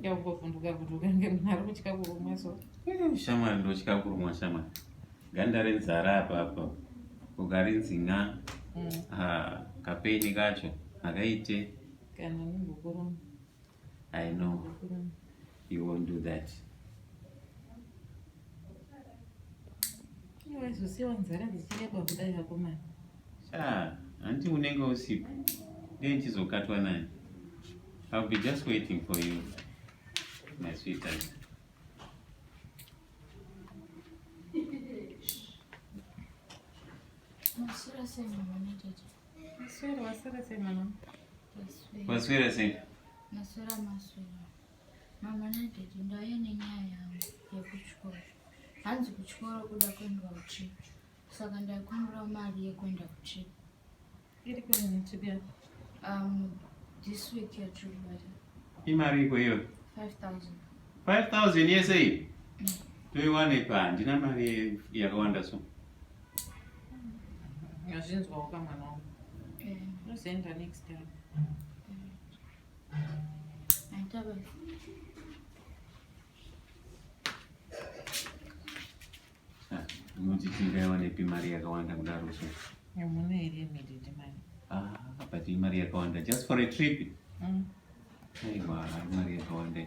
yakuvovhunduka kuti ukange munhu ari kutya kurumwa so eh, shamwari ndotya kurumwa shamwari ganda renzara apapa ukarinzi nga mm. ah, kapeni kacho akaite kana nungukuruma i know He won't do that. Iwe zosiwa nzara dzichireba kudai vakomana. Sha, hanti unenge usipo. Ndiye ndichizokatwa nani. I'll be just waiting for you, my sweetheart. Masura sema mwana tete. Masura wasura sema mwana. Masura sema. Masura masura. Mama nadhedhi ndauya nenyaya yangu yekuchikoro. Hanzi kuchikoro kuda kuendwa kutrip. Saka ndaikumbirawo mari yekuenda kutrip. Iri kuenda trip ya? Um, this week ya trip bata. Imari iko iyo? 5000. 5000 yese iyi? Mm. Toiwane pa handina mari yakawanda so. Ngazvinzwawo kamwana wangu. Eh. Tozoenda next time. Unochichingaiwanepi ah, mari yakawanda kudaro so? Hamuna here mididi mari? Ah, but imari yakawanda just for a trip. Mm. Aiwa, mari yakawanda.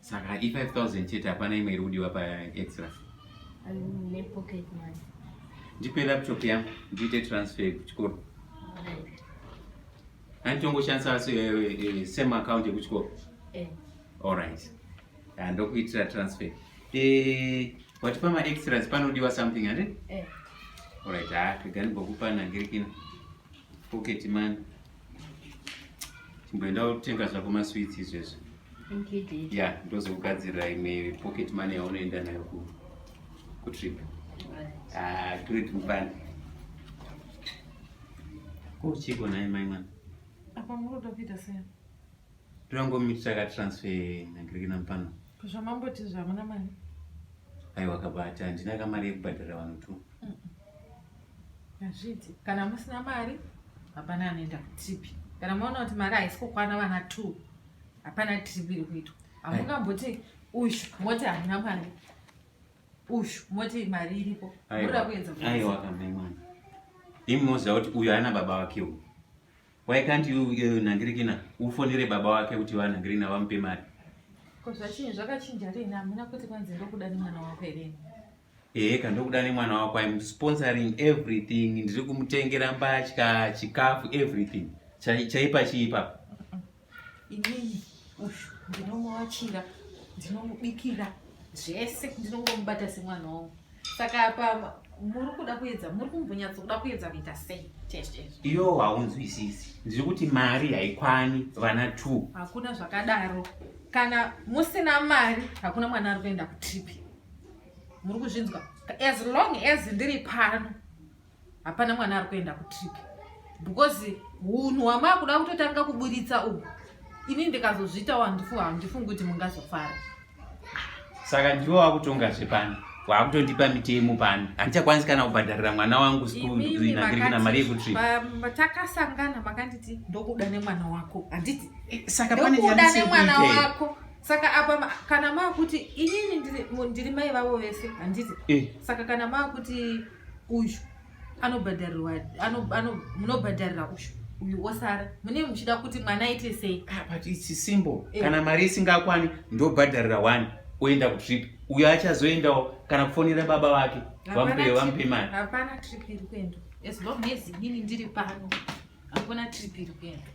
Saka i 5000 chete hapana imwe iri kudiwa pa extra. Ne pocket money. Ndipe laptop yangu ndiite transfer kuchikoro. Anitongoshandisa eh, eh, eh, same account yekuchikoro. Eh. All right. Ah, ndokuitira transfer. Eh, wati pama extras panodiwa something ande? Eh. All right, ah, kagani bokupa nangirikina. Pocket money. chimboenda kutenga zvako masweets izvezvo ya ndozokugadzirira imwe pocket money yaunoenda nayo kutrip ah, great mupani ko uchiko naye mai mwana apa muroda kuita sei Tirangomitisa ka transfer nagiriki nampano. Zvamamboti zvamuna mari. Aiwa kabata handina kamari yekubhadhara vanhu tu. Hazviti kana musina mari hapana anoenda kutipi. Kana maona kuti mari haisi kukwana vana two hapana trip iri kuitwa. Hamungamboti uyu moti hamuna mari. Uyu moti mari iripo. Murikuedza. Aiwa kamai mwana. Imi moziva kuti uyu haana baba wake uyu. Why can't you uh, Nangirikina ufonere baba wake kuti va Nangirina vamupe mari? Ko zvachinyi zvakachinja rini hamuna kuti kwanzi ndokuda nemwana wako here? Ehe ka ndokuda nemwana wako I'm sponsoring everything ndiri kumutengera mbatya chikafu everything chaipa chiipa. Inini ushu ndinomuvachira ndinomubikira zvese ndinongomubata semwana wangu saka apa muri kuda kuedza muri kumbonyatso kuda kuedza kuita sei iyo haunzwisisi ndiri kuti mari haikwani vana t hakuna zvakadaro kana musina mari hakuna mwana ari kuenda kutrip muri kuzvinzwa as long as ndiri pano hapana mwana ari kuenda kutrip because hunhu hwamaakuda kutotanga kuburitsa uhu ini ndikazozviitawo handifu handifungi kuti mungazofara saka ndivo vakutonga zvepano waakutondipa mitemo pano handichakwanisi kana kubhadharira mwana wangu skunagirikina mari yekutrip takasangana makanditi ndokuda nemwana wako handiti eh, saka panekuda nemwana wako saka apa kana maakuti inini ndiri mai vavo vese handiti eh. saka kana maakuti uyu anobhadharirwa munobhadharira uyu uyu osara mune muchida kuti mwana aite sei ah, but its simple eh. kana mari isingakwani ndobhadharira one oenda kutrip uyo achazoendawo kana kufonera baba vake vamupe vamupe mari hapana trip iri kuendwa as long as inini ndiri pano hakuna trip iri kuendwa